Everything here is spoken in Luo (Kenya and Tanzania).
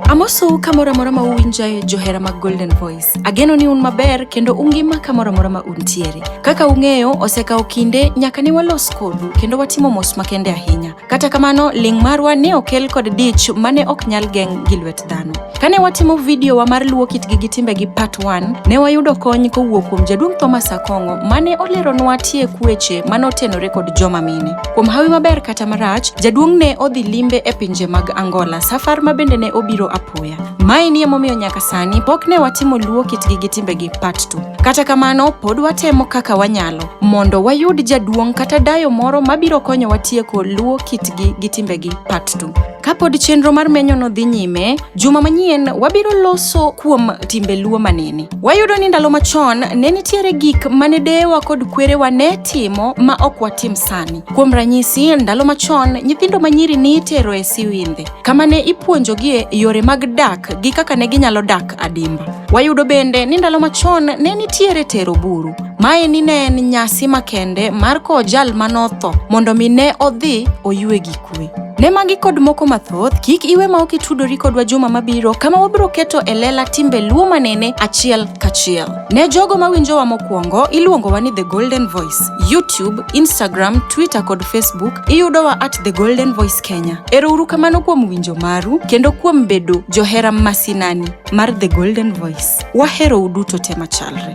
Amosou kamoro amora ma uwinjae johera mag Golden Voice. Ageno ni un maber kendo ungima kamoro amora ma untiere. Kaka ung'eyo, osekawo kinde nyaka ne walos kodu kendo watimo mos makende ahinya. Kata kamano, ling' marwa ne okel kod dich mane ok nyal geng' gi lwet dhano. Kane watimo video wa mar luwo kitgi gi timbegi part 1, ne wayudo kony kowuok kuom jaduong' Thomas Akong'o mane oleronwa tiek weche mane otenore kod joma mine. Kuom hawi maber kata marach, jaduong' ne odhi limbe e pinje mag Angola, safar ma bende ne obiro apoya. Mae ni emomiyo nyaka sani pok ne watimo luwo kitgi gi timbegi part 2. Kata kamano, pod watemo kaka wanyalo mondo wayud jaduong' kata dayo moro mabiro konyowa tieko luwo kitgi gi timbegi part 2. Kapod chenro mar menyono dhi nyime, juma manyien wabiro loso kuom timbe Luo manene. Wayudo ni ndalo machon ne nitiere gik mane deyewa kod kwerewa ne timo ma ok watim sani. Kuom ranyisi, ndalo machon nyithindo manyiri ni itero e siwindhe, kama ne ipuonjogie yore mag dak gi kaka ne ginyalo dak adimba. Wayudo bende ni ndalo machon ne nitiere tero buru. Mae ni ne en nyasi makende mar kowo jal manotho mondo mi ne odhi oywe gik kuwe. Ne magi kod moko mathoth, kik iwe ma ok itudori kodwa juma mabiro kama wabiro keto e lela timbe Luo manene achiel kachiel. Ne jogo mawinjowa mokwongo, iluongowa ni The Golden Voice. YouTube, Instagram, Twitter kod Facebook iyudowa at The Golden Voice Kenya. Erouru kamano kuom winjo maru kendo kuom bedo johera masinani mar The Golden Voice. Waherou duto te machalre.